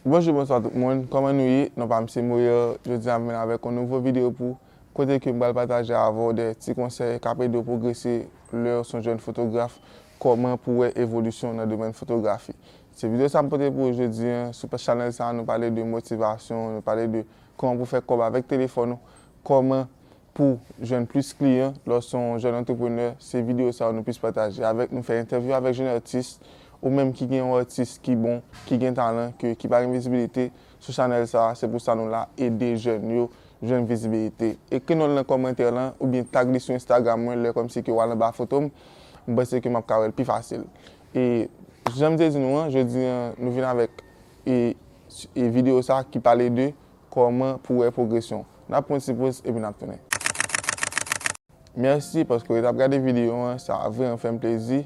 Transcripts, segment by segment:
Bonjou bonswa tout moun kòman nou ye non pam se moyè jodi an m vin avèk yon nouvo videyo pou kote ke m pral pataje avèw de ti konsèy kap edew pwogrese lèw son jèn fotograf kòman pou wè evolisyon nan domèn fotografi se videyo sa m pote pou ou jodi an sou chanèl sa nou pale de motivasyon nou pale de kòman pou fè kòb avèk telefòn ou kòman Pouw jwenn plis kliyan lè w se yon jèn antreprenè se videyo sa yo nou plis pataje avèk nou fè entèvyou avèk jèn atis ou menm ki gen yon atis ki bon ki gen talan ke ki pa gen vizibilite sou chanèl sa se pou sa nou la ede jèn yo jwenn vizibilite ekri non l nan kòmantè lan oubyen tag li sou instagram mwen lè kòmsi ke wal anba foto m m panse ke map ka wèl pi fasil e janm te di nou an jodi an nou vin avèk e videyo sa ki pale de. Kòman pou wè pwogresyon. Nap pran ti poz epi nap tounen. Merci paske ou ret ap gade video an sa vreman fèm plezi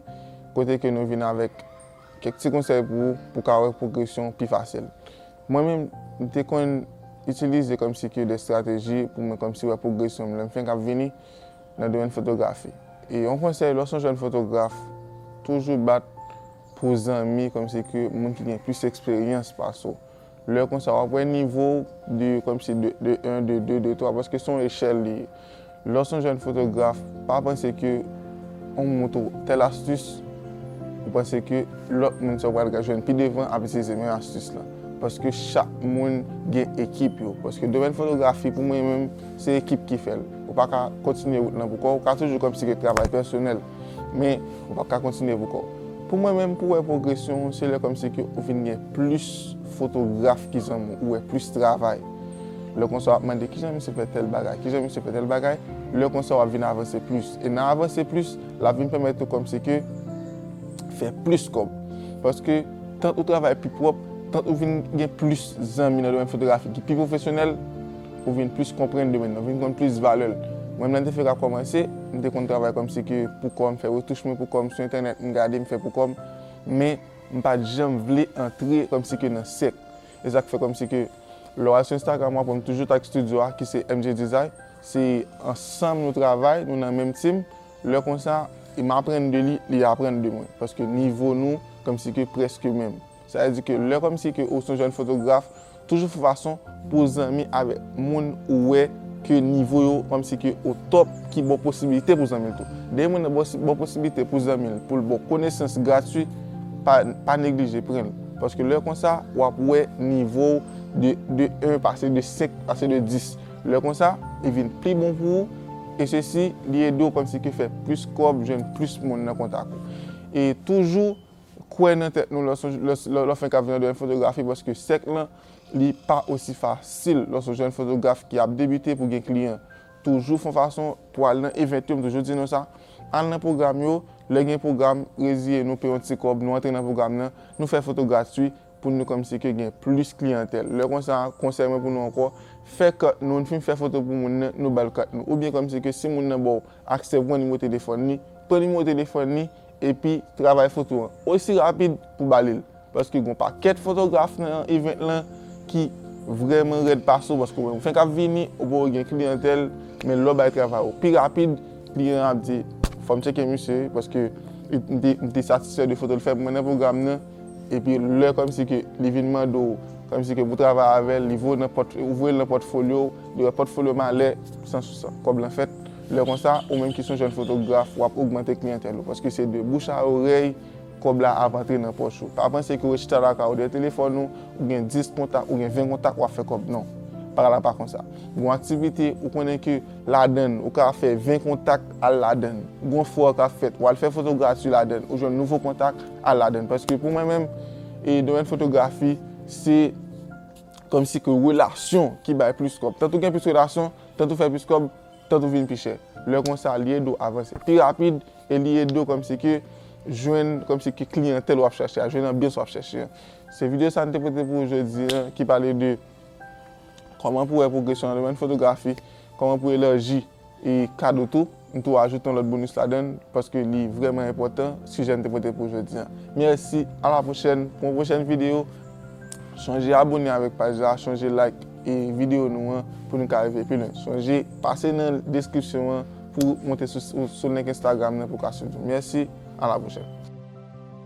kote ke nou vin avek kek ti konsèy pou ou pou ka wè pwogresyon pi fasil mwen menm m te konn itilize komsi ke de strateji pou mwen komsi wè pwogresyon m lèm fenk ap vini nan domèn fotografi e yon konsèy lè w son jèn fotograf toujou bat pou zanmi komsi ke moun ki gen plis eksperyans pase w. Lè konsa wap wè nivo w de kòmsi de 1, de 2, de 3 paske son echèl li ye. Lè w son jèn fotograf pa panse ke on moutre w tèl astis ou panse ke lòt moun sa w pral ka jwenn pi devan ap itilize menm astis la. Paske chak moun gen ekip yo. Paske domèn fotografi pou mwen menm se ekip ki fèl. Ou paka kontinye wout lan pou kò w. Ou ka toujou kòmsi ke travay pèsonèl. Men, ou pap ka kontinye pou kò w. Pou mwen menm, pou w wè pwogresyon w, se lè kòmsi ke ou vin gen plis fotograf ki zanmi w, ou wè plis travay. Lè konsa w ap mande kijan misye fè tèl bagay, kijan misye fè tèl bagay, lè konsa w ap vin avanse plis. E nan avanse plis, l ap vin pèmèt ou kòmsi ke fè plis kòb. Paske, tant ou travay pi pwòp, tant ou vin gen plis zanmi nan domèn fotografi ki pi pwofesyonèl, Ou vin plis konprann domèn nan, ou vin konn plis valè l. Mwen menm lè m te fèk ap kòmanse, m te konn travay kòm si ke pou kò m, fè retouch mwen pou kò m, sou entènèt m gade, m fè pou kò m, men m pa t janm vle antre kòm si ke nan sèk. E sa k fè kòm si ke lè w al sou Instagram w ap wè m toujou t ak studio a ki se MJ Design, se ansanm nou travay, nou nan menm team, lè konsa m aprann de li, li aprann de mwen paske nivo nou kòm si ke prèske menm. Sa vle di ke lè kòmsi ke ou se yon jèn fotograf, toujou fè fason pou w zanmi avèk moun ou wè ke nivo yo kòmsi ke o tòp ki ba w posibilite pou w zanmi l tou. Dè yon moun nan ba w posibilite pou w zanmi l, pou l ba w konesans gratwi, pa neglije pran l. Paske lè konsa, w ap wè nivo w de 1 pase de 5, pase de 10. Lè konsa, li vin pi bon pou ou e sesi li ede w kòmsi ke fè plis kòb, jwenn plis moun nan kontak ou. E toujou. kwè nan tèt nou lè fenk ap jwenn fotografi paske sèk lan li pa osi fasil lè son jèn fotograf ki ap debite pou gen kliyan toujou fon fason pou al nan event yo m toujou di nou sa al nan pwogram yo lè gen pwogram reziye nou peye yon ti kòb nou antre nan pwogram nan nou fè foto gratwi pou nou kòmsi ke gen plis kliyantèl. Lè konsa, konsèy mwen pou nou ankò, fè kart nou, nou fin fè foto pou moun nan, nou bal kart nou. Ou byen kòmsi ke si moun nan baw aksè pou pran nimewo telefòn li, pran nimewo telefòn li epi travay foto an osi rapid pou bali l. Paske gon pakèt fotograf nan event lan ki vrèman rèd pase w paske ou menm ou fenk ap vini, ou poko gen kliyantèl, men lè w bay travay ou pi rapid, kliyan an ap di fòm tcheke misye paske m te satisfè de foto l fè pou mwen nan pwogram nan. Epi lè kòmsi ke li vin mande w kòmsi ke pou w travay avè l, li voye w nan pòt, ou voye l nan pòtfolyo w, li wè pòtfolyo w malè, san sou sa, kòb lan fèt. Lè konsa, ou menm ki s on jèn fotograf, w ap ogmante kliyantèl ou. Paske se de bouch a orèy kòb la ap antre nan pòch ou. Pa panse ke w ret chita lakay ou dèyè telefòn ou, ou gen 10 kontak, ou gen 20 kontak, w ap fè kòb. Non. Bagay la pa konsa. Gen yon aktivite, ou konnen ke ladan l, ou ka fè 20 kontak al ladan l. Gen yon fwa k ap fèt, w al fè foto grati ladan l, ou jwenn nouvo kontak, al ladann paske pou mwen menm e domèn fotografi se kòm si ke relasyon ki bay plis kòb tant ou gen plis relasyon tant ou fè plis kòb tant ou vin pi chè lè konsa li ede w avanse pi rapid e li ede w kòm si ke jwenn kòm si ke kliyantèl wap chache a jwenn anbyans wap chache an se videyo sa nou te pote pou ou jodi an ki pale de kòman pou wè pwogresyon nan domèn fotografi kòman pou elanji E kado tou, m tou ajoute yon lòt bonus ladan l paske li vrèman enpòtan sijè m te pote pou jodi an. Mèsi, a la pwochèn pou yon pwochèn videyo. Sonje abone avèk paj la, sonje like videyo nou an pou nou ka rive pi lwen. Sonje pase nan deskripsyon an pou monte sou link Instagram nan pou w ka swiv nou. Mèsi, a la pwochèn.